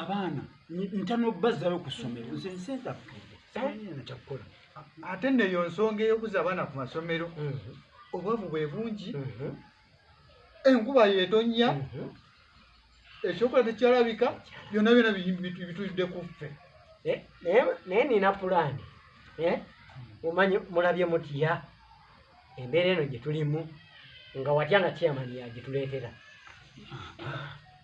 abaana ntano bazzayo ku ssomero nze nsente afudde simanyiina kyakukola ate neyo nsonga ey'okuza abaana ku masomero mhm. obwavu bwe bungi mhm. enkuba yetonnya mhm. ekyokola tekyalabika byonna byona bitulidde ku ffe eh, naye nina pulaani eh? omanyi mulabye mutya embeera eno gye tulimu nga watya nga kyamani yagyituleetera ah, ah.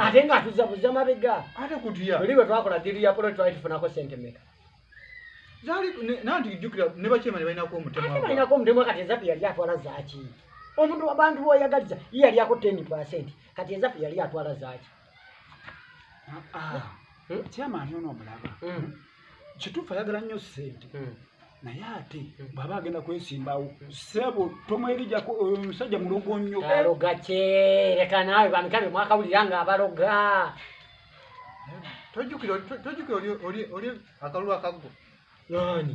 ate nga atuza buza mabega oli bwe twakola diri ya polo twali tufunako sente meka balinako omutemwa kati ezapi yali atwala zaki omuntu abantu boyagaliza ye yali ako ten percent kati ezapi yali atwala zaki ah, ah. hmm? kituufu ayagala nnyo ssente hmm. naye ate hmm. bwaba agenda kwesimbawo hmm. sebo tomwerijako oyo omusajja mulogo nnyo aloga kye leka naawe bamikabe mwakawulira nga abaloga tojjukira oli akalulu akaggo nani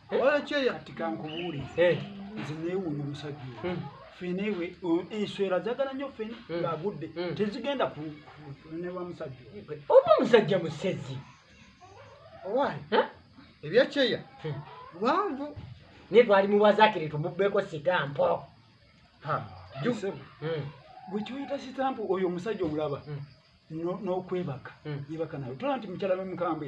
olwekyeya kati kankubuulire Eh, nze neewuunya omusajja oyo mm, fene ewe o- enswera zagala nnyo fene Mm. ng'agudde Mm. tezigenda ku ku- ne wa musajja oyo oba omusajja musezi owaayi Eh? ebyekyeya Hmm. lwanvu naye twali muwazakire tumubbeeko sitampo Ha, ju- Ssebo, Mm, gwe kyoyita sitampu oyo omusajja omulaba mm. no- n'okwebaka Mm. yebaka nawe tola nti mukyala we mukambwe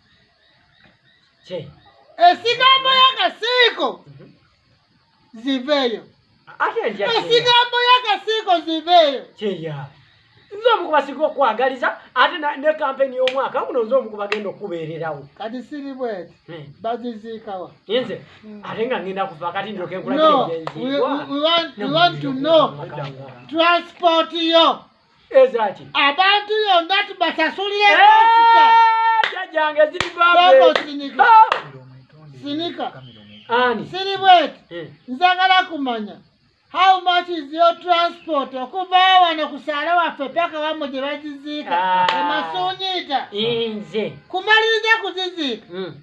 Che. Esigambo ya kasiko mhm. ziveyo. Ate nja. Esigambo ya kasiko ziveyo. Che ya. Nzo mukuba siko kwagaliza ate na ne campaign yo mwaka kuno nzo mukuba gendo kubererawo. Kati siri bwet. Hmm. Bazizika wa. Yenze. Hmm. Ate nga ngenda kufa kati ndo kenkula no. kile. No. We, we want we want to know. Transport yo. ezaki abantu yonna tubasasulire pasita jajjange ziri babesinika sinika ani siri bweti eh. nzagala kumanya how much is your transport okuva wano ku saala waffe paka wamwe gye baziziika ah. emasuunyiita nze kumaliriza kuziziika hmm.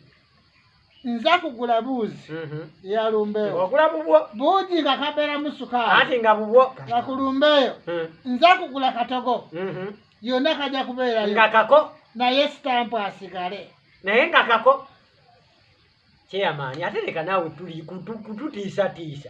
nza kugula buuzi mhm. ya lumbeeyo ogula bubwo buugi nga kabeeramu sukaali ati nga bubwo nga ku lumbeeyo mhm. nza kugula katogo mhm. yonna kajja kubeerayo nga kako naye sitampu asigale naye nga kako kyeyamaani ate leka naawe kututiisatiisa